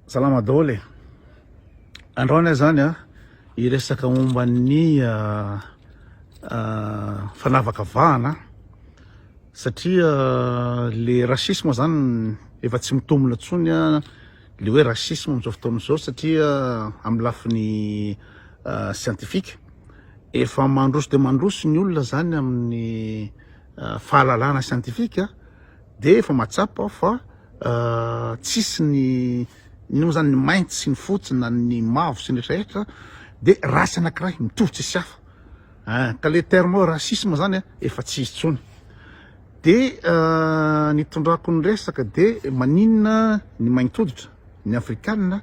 Salama daholo e! Androany aho zany a, hiresaka momba ny fanavakavahana satria le racisme zany efa tsy mitombona intsony le hoe racisme amin'izao fotoana izao satria amin'ny lafiny scientifique efa mandroso dia mandroso ny olona zany amin'ny fahalalana scientifique. Dia efa mahatsapa aho fa tsisy ny inona moa zany ny mainty sy ny fotsy na ny mavo sy ny rehetra rehetra dia race anakiray mitovy tsisy hafa ah ka le terme racisme zany ah efa tsy izy tsony dia ny tondrako ny resaka dia maninona ny mainty hoditra ny afrikanina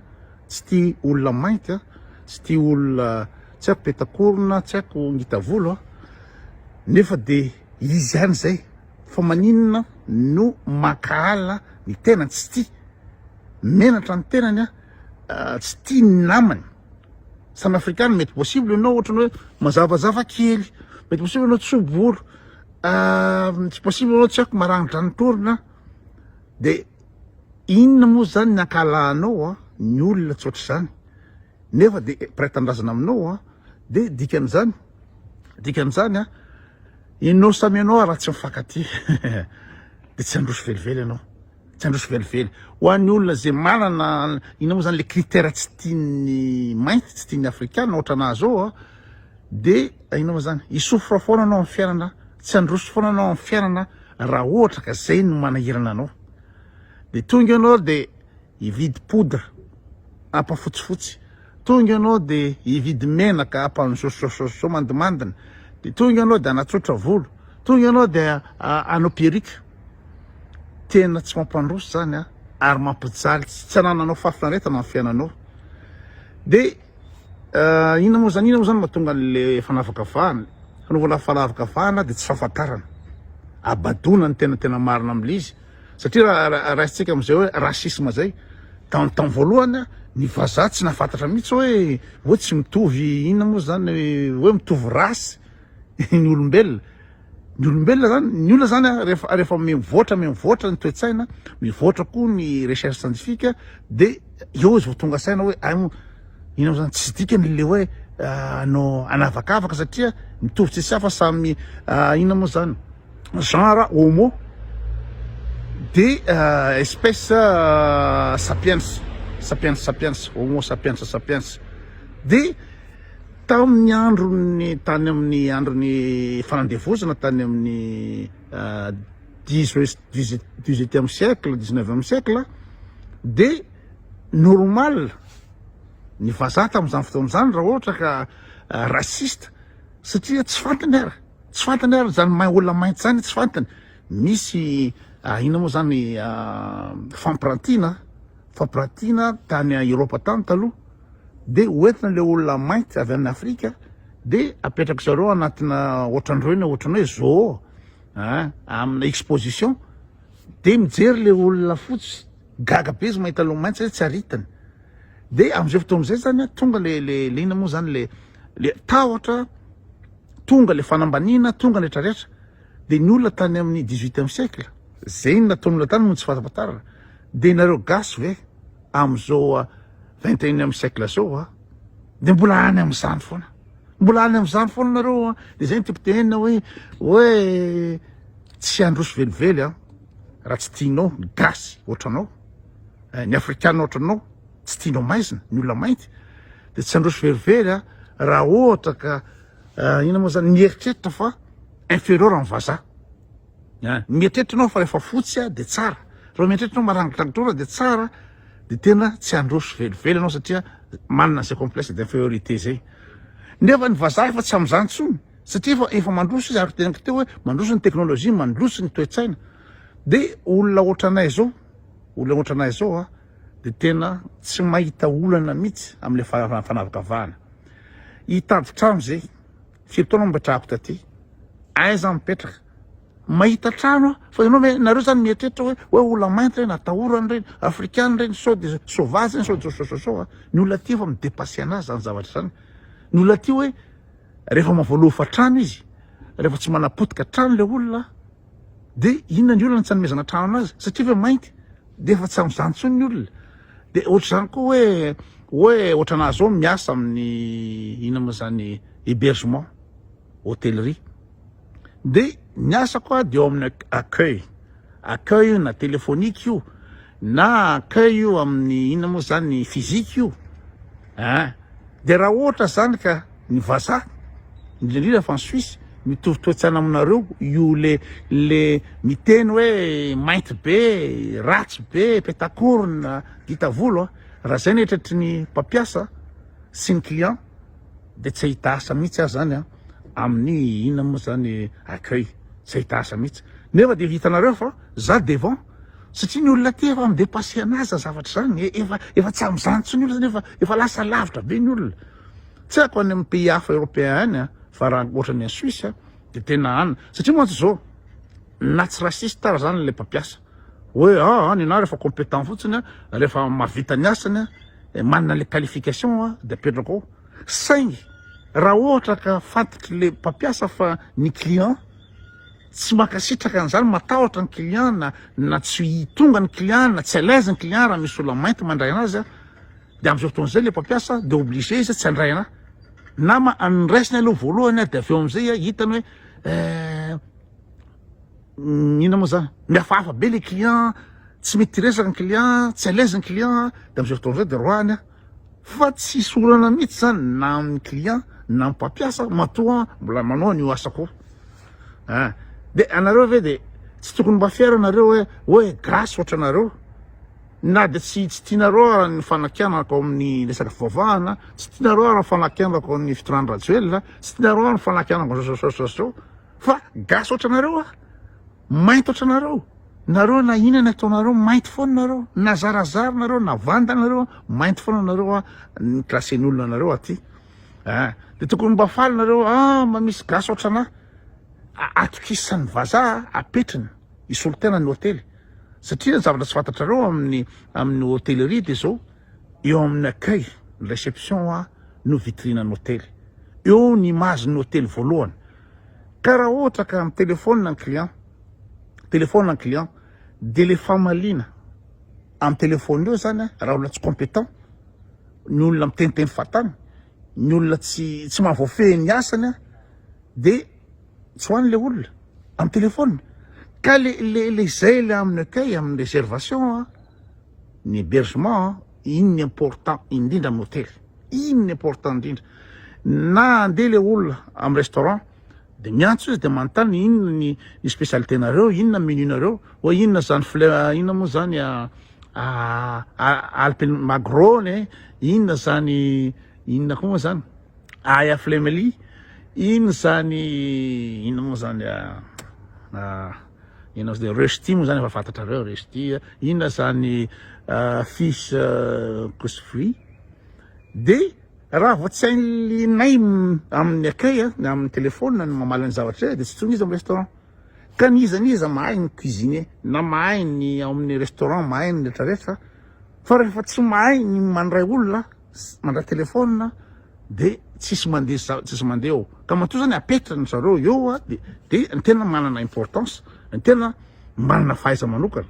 tsy tia olona mainty ah tsy tia olona tsy haiko petakorona tsy haiko ngitavolo ah nefa dia izy ihany zay Fa maninona no mankahala ny tenany, tsy tia menatra ny tenany a, tsy tia ny namany, samy afrikana, mety possible enao ohatry ny hoe mazavazava kely, mety possible enao tso bolo, mety possible enao tsy aiko maranidranitrr orona de inona moa zany ny ankahalahanao a ny olona tsy ohatry zany nefa de mpiray tanindrazana aminao a de dikan'izany, dikan'izany a. Ianao samy ianao raha tsy mifankatia dia tsy handroso velively ianao, tsy handroso velively. Ho an'ny olona izay manana, inona moa izany ilay critère tsy tian'ny mainty, tsy tian'ny afrikana, ohatra anà izao a, dia inona moa izany, hi-souffre foana anao amin'ny fiainana, tsy handroso foana anao amin'ny fiainana raha ohatra ka izay no manahirana anao. Dia tonga ianao dia. hividy poudre hapa fotsifotsy, tonga ianao de hividy menaka hapa ny sosososo mandimandina, de tonga ianao de hanatsotra volo, tonga ianao de hanao perruque. Tena tsy mampandroso zany a, ary mampijaly tsy anananao fahafinaretana amin'ny fiainanao. De inona moa zany, inona moa zany mahatonga an'le fanavakavahana, fanaovana fanavakavahana de tsy fahafantarana, habadoana ny tena tena marina amin'le izy. Satria raha raisintsika amin'izay hoe racisme izay, tamin'ny tamin'ny voalohany ny vazaha tsy nahafantatra mihitsy hoe hoe tsy mitovy inona moa izany hoe mitovy race ny olombelona. Ny olombelona izany, ny olona izany rehefa rehefa mivoatra mivoatra ny toe-tsaina, mivoatra koa ny recherche scientifique dia eo izy vao tonga saina hoe ay moa inona moa izany, tsy dikany ilay hoe hanao hanavakavaka satria mitovy tsisy hafa samy inona moa izany. genre homo de euh, espèce euh, sapiens sapiens sapiens homo sapiens sapiens de tamin'ny andron'ny tany amin'ny andron'ny fanandevozana tany amin'ny euh, dix-huitième siècle dix-neuvième siècle de normal ny vazaha tamin'izany fotoana izany raha ohatra ka euh, raciste satria tsy fantany ara Tsy fantany ary zany main olona mainty zany tsy fantany misy ah, ina moa zany ah, fampirantiana fampirantiana tany Europa tany taloha de hoentina le olona mainty avy any Afrika de apetraka zareo anatina ohatran'ireo ny ohatran'ny hoe zoo ah, amina exposition de mijery le olona fotsy gaga be izy mahita le mainty satria tsy aritany de am'izay fotoana izay zany tonga le le le ina moa zany le le tahotra Tonga le fanambaniana, tonga ny rehetra rehetra, de ny olona tany amin'ny dix huitième siècle, zay nataon'ny olona tany no tsy fantapatarana, de nareo gasy ve amzao vingt et unième siècle zao a de mbola any amzany foana, mbola any amzany foana nareo a, de zay ny tiako tenenina hoe, hoe tsy androso velively an, raha tsy tianao ny gasy otranao, ny afrikana otranao. tsy tianao maizina ny olona mainty de tsy androso verivery a raha ohatra ka inona moa zany mieritreritra fa inferieur amin'ny vazaha a ny mieritreritra anao fa rehefa fotsy a de tsara raha mieritreritra anao marangidrangitra de tsara de tena tsy androso velively anao satria manana zay complexe d'inferiorité zay nefa ny vazaha efa tsy amin'izany tsony satria efa efa mandroso izy ary teneniko teo hoe mandroso ny teknolojia mandroso ny toe-tsaina de olona ohatranay zao olona ohatranay zao a dia tena tsy mahita olana mihitsy amle fanavakavahana hitady trano ze firy taona mipetrahako taty aiza mipetraka mahita trano aho fa ianao ve nareo zany mieritreritra hoe hoe olona mainty reny atahorany reny afrikana reny sao de sauvage reny sao de sosososo a ny olona aty efa midepasser anazy zany zavatra zany ny olona aty hoe rehefa mavoalofa trano izy rehefa tsy manapotika trano le olona De inona ny olana tsy anomezana trano anazy satria efa mainty de efa tsy amzany intsony ny olona de ohatr'izany koa hoe hoe ohatranazy zao miasa amin'ny inona moa zany hébergement hôtellerie de ny asako a de eo amin'ny accueil accueil io na téléphonique io na accueil io amin'ny inona moa zany physique io a de raha ohatra zany ka ny vazaha indrindra fa ny suisse mitovy toetsana aminareo io le le miteny hoe mainty be ratsy be petakorona dita volo a raha zay ny etratry ny mpampiasa sy ny client de tsy hahita asa mihitsy aho zany a amin'ny ina moa zany accueil tsy hahita asa mihitsy nefa de vitanareo fa za devant satria ny olona ty efa midepasser anazy zavatra zany efa efa tsy amin'izany tsy ny olona zany efa efa lasa lavitra be ny olona Tsy haiko any amin'ny pays hafa européen any fa raha ohatran'ny any Suisse dia tena any satria mantsy izao na tsy raciste ary izany ilay mpampiasa hoe ah ny anah rehefa compétent fotsiny rehefa mahavita ny asany manana ilay qualification dia apetrako ao saingy raha ohatra ka fantatr'ilay mpampiasa fa ny client tsy mankasitraka an'izany matahotra ny client na na tsy tonga ny client na tsy à l'aise ny client raha misy olona mainty mandray anazy Dia amin'izao fotoana izao ilay mpampiasa dia obligé izy tsy handray anà. Na raisiny aloha voalohany dia avy eo amin'izay hitany hoe eh, mm, inona moa izany, mihafahafa be ilay client, tsy mety resaka ny client, tsy à l'aise ny client, dia amin'izao fotoana izao dia roahany aho. Fa tsy sorana mihitsy izany na amin'ny client na amin'ny mpampiasa matoa mbola manao an'io asako io. Ah, dia anareo ve dia tsy tokony mba fiera nareo hoe hoe grâce ohatranareo Na dia tsy tsy tianareo ara ny fanakianako ao amin'ny resaka fivavahana, tsy tianareo ara ny fanakianako ao amin'ny fitondrany Rajoelina, tsy tianareo ara ny fanakianako zao zao zao zao fa gasy ohatranareo aho, mainty ohatranareo, nareo na inona ny ataonareo mainty foana nareo, na zarazara nareo na vanda nareo mainty foana nareo a, ny classe-n'olona anareo aty a, de tokony mba faly nareo a, mba misy gasy ohatranah atokisany vazaha apetriny. Hisolo tena ny hotely satria ny zavatra tsy fantatrareo amin'ny amin'ny hotellerie dia izao eo amin'ny accueil ny réception a no vitrine ny hotely eo ny image ny hotely voalohany ka raha ohatra ka amin'ny téléphone ny client téléphone ny client dia le famaliana amin'ny téléphone eo zany raha olona tsy compétent ny olona miteniteny fatany ny olona tsy tsy mahavoafehy ny asany De tsy ho any le olona am telephone ka le le le zay le aminy accueil aminy reservation a ny hebergement a iny ny important indrindra am hotely iny ny important indrindra na ande le olona am restaurant de miantso izy de manontany inona ny ny specialité nareo inona menu nareo oe inona zany fle inona mo zany a alpine magro ne inona zany inona ko mo zany. Aya Flemely, inn zany inn mo zany inn ozy Rushdie mo zany efa fantatrareo Rushdie inn zany fils Kosovy de raha vao tsy hain'linay amin'ny akay amin'ny telephone ny mamaly ny zavatra zay de tsy tsony izy amin'ny restaurant ka n'iza n'iza mahay ny cuisiner na mahay ny ao amin'ny restaurant mahay ny retraretra fa rehefa tsy mahay ny mandray olona mandray telephone de tsisy mandeha tsisy mandeha eo ka matoa zany apetra ny zareo eo de de ny tena manana importance ny tena manana fahaiza manokana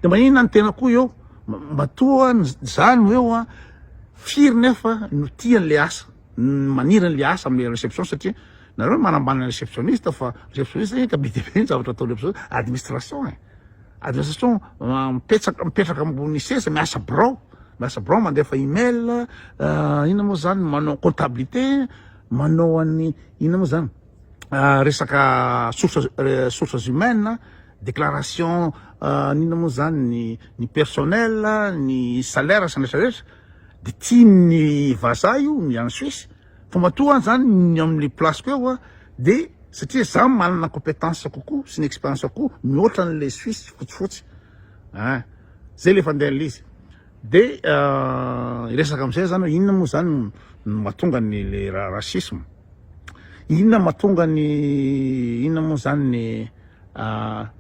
de manina ny tena koa eo matoa zany eo firy nefa no tian'le asa maniry an'ilay asa amin'ilay réception satria nareo no manambany ny réceptionniste fa réceptionniste zany ka be dia be ny zavatra ataon'ny réceptionniste, administration e, administration mipetraka mipetraka ambony seza miasa birao, miasa birao mandefa email, ah, inona moa zany manao comptabilité, manao an'ny inona moa zany ah, resaka sources eh, sources humaines, déclaration ah, inona moa zany ny ny personnel, ny salaire sy ny rehetra rehetra. de tian'ny vazaha io ny any Suisse fa matoa any zany ny amin'ny place-ko eo an de satria za manana competence kokoa sy ny experience kokoa mihoatra an'le Suisse fotsifotsy an zay le fandehan'le izy de hiresaka am'zay zany hoe inona moa zany no mahatonga ny le racisme inona mahatonga ny inona moa zany ny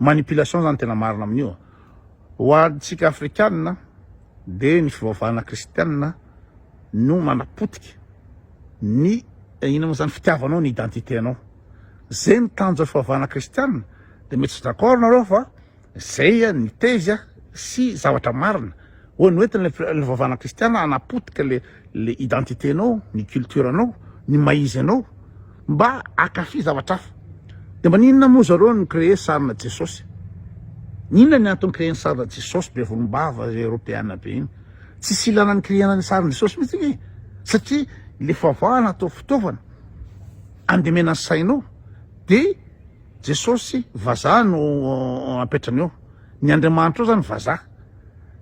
manipulation zany tena marina amin'io ho antsika afrikanina dia ny fivavahana kristianina no manapotika ny inona moa izany fitiavanao ny identité nao zay ny tanjon'ny fivavahana kristianina dia mety tsy d'accord nareo fa zay ny thèse sy zavatra marina hoe noentin'ilay fivavahana kristianina hanapotika le le identité nao ny culture nao ny maha izy anao Mba akafy zavatra hafa. De maninona moa zareo no créer sarina Jesosy? Inona ny antony créer ny sarina Jesosy be volombava Europeana be iny? Tsisy ilana ny créer-na ny sarin'i Jesosy mitsy anie satria le favahana atao fitaovana andemena ny sainao de Jesosy vazaha no apetrany eo. Ny Andriamanitra eo zany vazaha.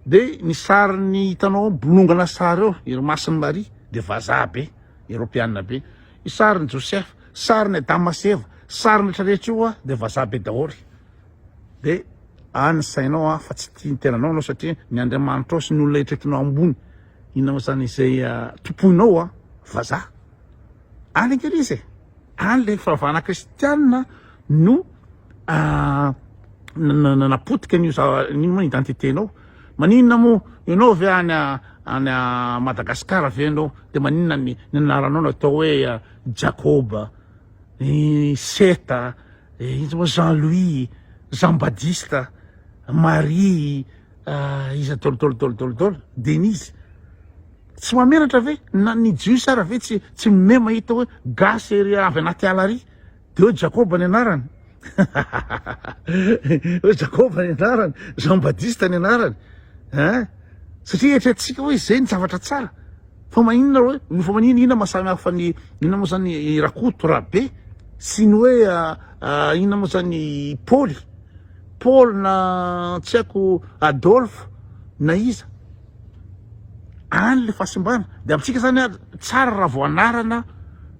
De ny sarin'ny hitanao bolongana sary eo, iry masin'i Maria de vazaha be. Eropeana be. Io sarin'i Josefa, sarin'i Adama sy Eva, sarin'ny rehetra rehetra io hoa dia vazaha be daholo. Dia any ny sainao hoa fa tsy tia ny tenanao ianao satria ny Andriamanitrao sy ny olona rehetra hitanao ambony, inona moa izany izay tompoinao hoa vazaha. Any angely izy e. Any le fahavana kristianina no napotika an'io zava-nino moa identité nao maninona moa ianao ve any any Madagascar ve ianao de maninona ny ny anaranao natao hoe Jacob i Seta izy moa Jean Louis Jean Badista Marie iza dôly dôly dôly dôly dôly Denise Tsy mahamenatra ve? Na ny jiosy ara ve tsy tsy mime mahita hoe gasy ery avy anaty ala ary? Dia hoe Jakoba ny anarany. hoe Jakoba ny anarany, Jean Badista ny anarany. Hein? Satria eritreretintsika hoe izay ny zavatra tsara. Fa maninona hoe no fa maninona inona masamy hafa ny inona moa zany i Rakoto Rabe sy ny hoe inona moa zany i Paoly. Paul na tsy haiko Adolphe na iza. any le fahasimbana de amintsika zany ary tsara raha vao anarana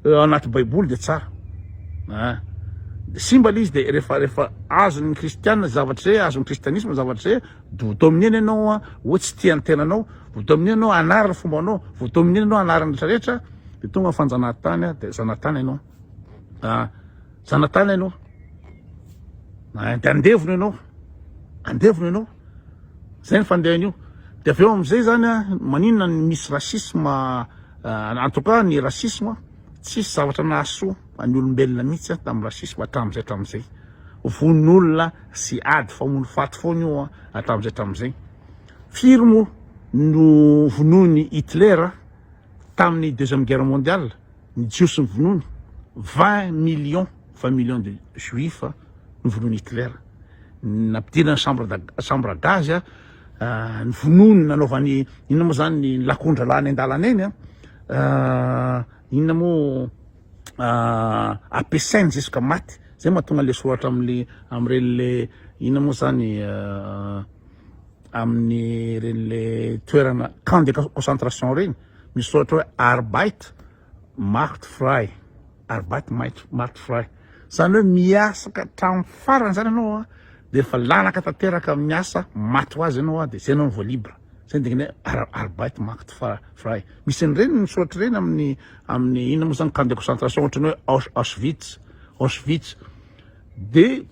eh, anaty baiboly de tsara ah. de simba le izy de rehefa rehefa azon'ny kristiana zavatra zay azon'ny kristianisme zavatra zay vo dominer-ny ianao ah, hoe tsy tia ny tenanao vo dominer ianao anarana fomba anao vo dominer ianao anarana rehetrarehetra de tonga fanjanahantany ah, de zanatany ianao ah, zanatany ianao ah, de andevona ianao andevona ianao zay ny fandehany io de avy eo amizay zany a maninona ny misy racisme en tout cas ny racisme tsisy zavatra nahasoa any olombelona mihitsy a tam racisme hatramizay hatramizay vono olona sy ady famono faty foana io a hatramizay hatramizay firy moa no vonoiny Hitler taminy deuxième guerre mondiale ny jiosy novonoiny, vingt millions, vingt millions de juifs novonoin'i Hitler, nampidirany chambre chambre à gaz, novonoiny nanaovany inona moa zany ny lakondra lany an-dalana eny an, inona moa ampiasainy jusqu'à maty, zay mahatonga le soratra amle amreny le inona moa zany amin'ny reny le toerana camp de concentration reny. Misy soratra hoe Arbeit macht frei, Arbeit macht frei, izany hoe miasa ka hatramin'ny farany izany ianao a, dia efa lanaka tanteraka amin'ny asa maty ho azy ianao a, dia izay ianao no vao libre, izay no dikany hoe Arbeit macht frei. Misy an'ireny ny soratra ireny amin'ny amin'ny inona moa izany camp de concentration ohatran'ny hoe Aus- Auschwitz, Auschwitz, dia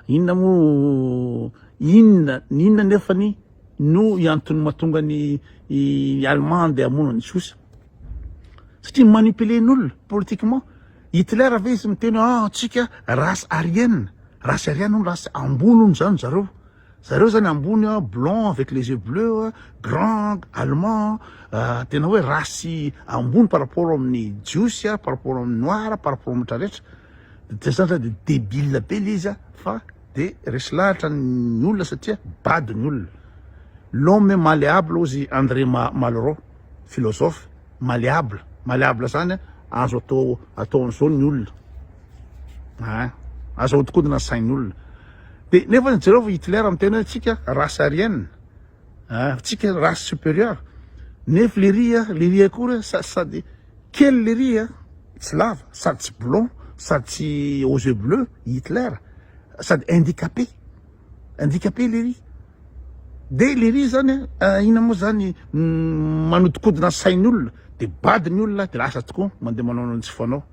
inona moa, inona, ny inona nefany? no antony mahatonga ny i Allemand handeha hamono an'i Josa. Satria manipuler ny olona politiquement. Hitler ve izy miteny hoe ah antsika race aryenne, race aryenne hono race ambony hono zany zareo. Zareo zany ambony ah, blanc avec les yeux bleus ah, grand, allemand ah, tena hoe race ambony par rapport amin'ny Jiosy ah, par rapport amin'ny noir, par rapport amin'ny rehetra rehetra. Dia zany zany dia débile be le izy ah fa. Dia resy lahatra ny olona satria bado ny olona. L'homme malléable hozy i André Malraux, philosophe, malléable, malléable izany a, azo atao atao an'izao ny olona, ein, azo ahodikodina ny sain'olona. Dia nefa jereo fa Hitler miteny hoe tsika race aryenne, ein, tsika race supérieure, nefa lery a, lery akory a, sa- sady Kely lery a, tsy lava, sady tsy blond, sady tsy aux yeux bleus, i Hitler, sady indicapé, indicapé lery. Dia lery zany a, inona moa zany, manodikodina ny sain'olona, dia bado ny olona, dia lasa tokoa mandeha manao anao tsy fanao.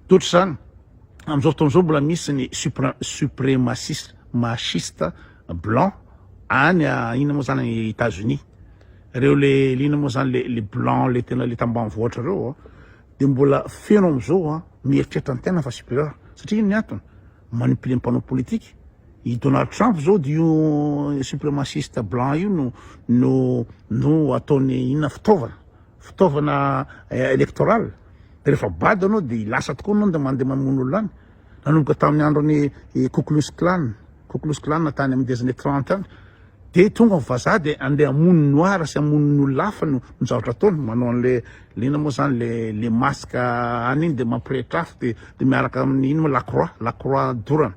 Dia ohatr'izany, amin'izao fotoana izao mbola misy ny supre, supremaciste, machiste blanc any a, inona moa zany, États-Unis. Reo le lina moa zany le le blanc le tena le tambanivohitra reo a de mbola feno amizao a mieritreritra ny tena fa supérieur satria ino ny antony manipuler ny mpanao politique i Donald Trump zao de io suprémaciste blanc io no no no ataony inona fitaovana fitaovana eh, électoral rehefa bado anao de lasa tokoa anao de mandeha mamono olona any nanomboka tamin'ny andron'ny Ku Klux Klan, Ku Klux Klan tany amin'ny des années 30 any, dia tonga ny vazaha dia andeha hamono ny noir sy hamono ny olona hafa no no zavatra ataony, manao an'le le inona moa zany le le masque any iny dia mampirehitra afo dia dia miaraka amin'ny ino moa la croix la croix dorana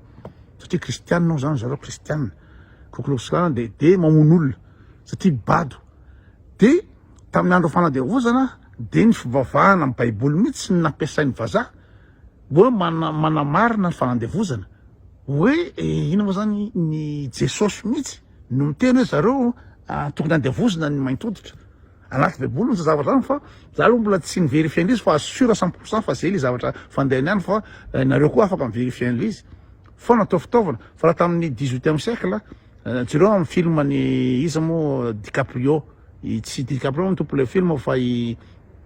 satria kristiana hoy zany zareo kristiana Ku Klux Klan dia dia mamono olona satria bado dia tamin'ny andro fanadiavozana dia ny fivavahana amin'ny baiboly mihitsy ny nampiasain'ny vazaha Hoe manamarina fandevozana, hoe inona moa zany ny Jesosy mihitsy no miteny hoe zareo tokony andevozina ny mainty hoditra, anaty baiboly mihitsy zavatra zany fa za lo mbola tsy ni-verifier anle izy fa sur cent pour cent fa ze le zavatra fandehany any fa nareo koa afaka mi-verifier anle izy fa natao fitaovana fa raha tamin'ny dix huitième siècle jereo amin'ny film an'i iza moa DiCaprio tsy DiCaprio no tompon'ilay film fa i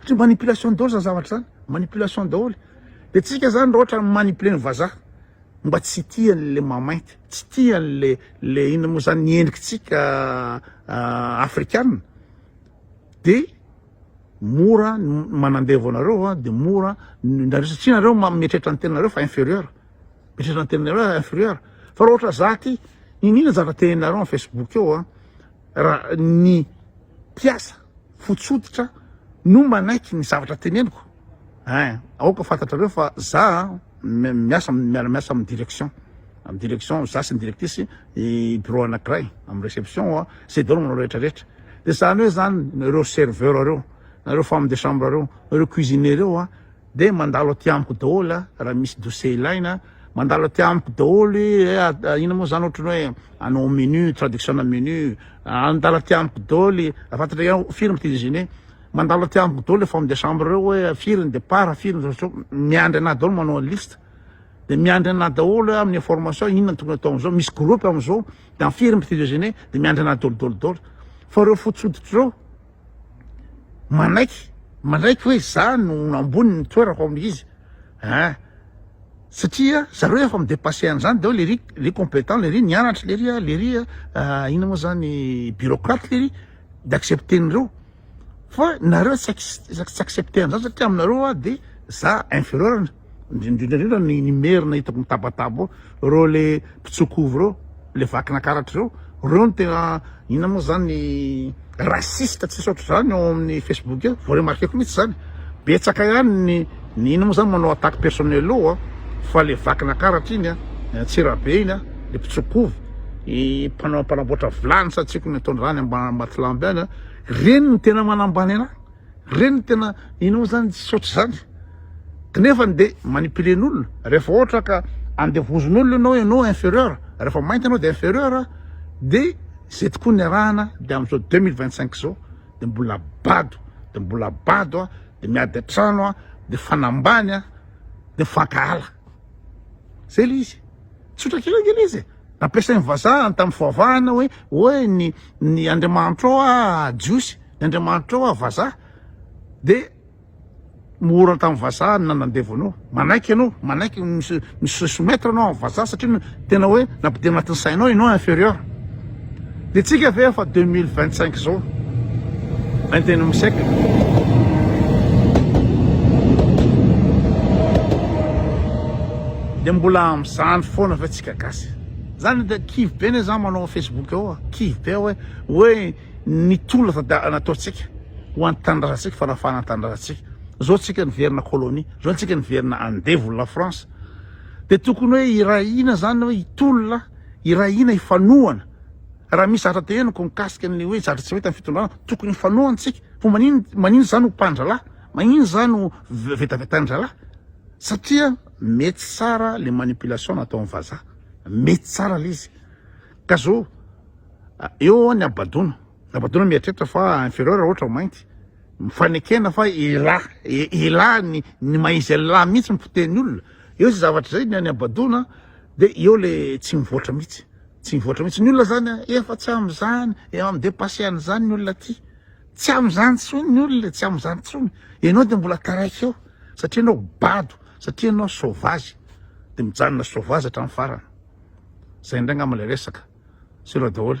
Satria manipulation daholo zany zavatra zany, manipulation daholo. De tsika zany raha ohatra mi-manipuler ny vazaha mba tsy tia an'le mahainty, tsy tia an'le le inona moa zany ny endrikitsika afrikana de mora ny manandevo anareo a, de mora ny nareo satria nareo mieritreritra ny tenanareo fa inferieur, mieritreritra ny tenanareo fa inferieur, fa raha ohatra za ty iniana zavatra teneninareo am facebook eo a, raha ny mpiasa. fotsy hoditra no manaiky ny zavatra teneniko ein, aoka fantatrareo fa za miasa miara miasa amin'ny direction amin'ny direction za sy ny directrice i bureau anakiray amin'ny reception a zay daholo manao rehetra rehetra de zany hoe zany ireo serveur reo nareo femme de chambre reo nareo cuisinier reo a Dia mandalo aty amiko daholo a, raha misy dosie ilaina, mandalo aty amiko daholo i eh, ah, inona moa zany ohatrany hoe anao menu, traduction na menu, ah, mandalo aty amiko daholo i, ah, fantatra ihany firy ny cuisine, mandalo aty amiko daholo efa amin'ny chambre ireo hoe firy ny départ, firy ny retour, miandry anah daholo manao ny liste, dia miandry anah daholo hoe amin'ny information inona no tokony atao amin'izao, misy groupe amin'izao, dia firy ny cuisine, dia miandry anah daholo daholo daholo, fa ireo fotsy hoditra ireo manaiky manaiky hoe za no ambony ny toerako amin'izy ah satria zareo efa midepasser an'izany daholo lery le compétent lery nianatra lery a lery a ina moa zany bureaucrate lery d'accepter an'ireo fa nareo tsy accepter an'izany satria aminareo ah de za inférieur indrindraindrindra ny ny merina hitako mitabataba ao reo le mpitsokovy reo le vakina karatra reo reo no tena ina moa zany raciste tsisy ohatr'izany ao amin'ny facebook eo vao remarqueko mihitsy zany betsaka ihany ny ny ina moa zany manao attaque personnel eo a fa le vakina karatra iny a antsirabe iny a le mpitsokovy i mpanao mpanamboatra vilany sa tsiko ny ataon'izany ambany matilamby any a reny no tena manambany anahy Reny no tena inona moa zany tsy ohatr'izany knefany de manipulen'olona rehefa ohatra ka andevozin'olona ianao hoe ianao inferieur rehefa mainty ianao de inferieur de zay tokoa ny arahana de amin'izao 2025 zao de mbola bado de mbola bado a de miady an-trano a de fanambany a de fankahala zay le izy tsotra kely anie le izy Nampiasain'ny vazaha ny tamin'ny fivavahana hoe, hoe ny, ny andriamanitrao ah jiosy, ny andriamanitrao ah vazaha. Dia mora tamin'ny vazaha ny nanandevo anao. Manaiky ianao, manaiky ny se, mi se soumettre ianao amin'ny vazaha satria tena hoe nampidirina anatin'ny sainao ianao inferieur. Dia tsika ve efa deux mille vingt cinq zao vingt et unième siècle dia mbola amin'izany foana ve tsika gasy zany dia kivy be ne za manao facebook eo a kivy be hoe hoe ny tolona tada- nataontsika ho an'ny tanindrazantsika fanafahana ny tanindrazantsika zao tsika niverina colonie zao tsika niverina andevo la france dia tokony hoe irahina zany hoe hitolona Irahina hifanohana. Raha misy zavatra te henoko mikasika an'ilay hoe zavatra tsy mety amin'ny fitondrana, tokony hifanohana isika. Koa manin, maninona izany ho mpandrahalahy? Maninona izany ho vetavetanin-drahalahy? Satria mety tsara le manipulation nataon'ny vazaha. Mety tsara le izy. Ka zao, eo ny habadoana. Habadoana mieritreritra fa inferieur raha ohatra mainty. Mifanekena fa elah, elah ny, ny maha izy elah mihitsy miteny olona. Eo izay zavatra izay ny habadoana. De eo le tsy mivoatra mihitsy, tsy mivoatra mihitsy ny olona zany a, efa tsy amin'izany, efa mi-depasser an'izany ny olona aty, tsy amin'izany tsony ny olona e, tsy amin'izany tsony, enao de mbola taraiky eo satria enao bado, satria enao sauvage, de mijanona sauvage hatramin'ny farany, zay indray ngamba le resaka, sera daholo.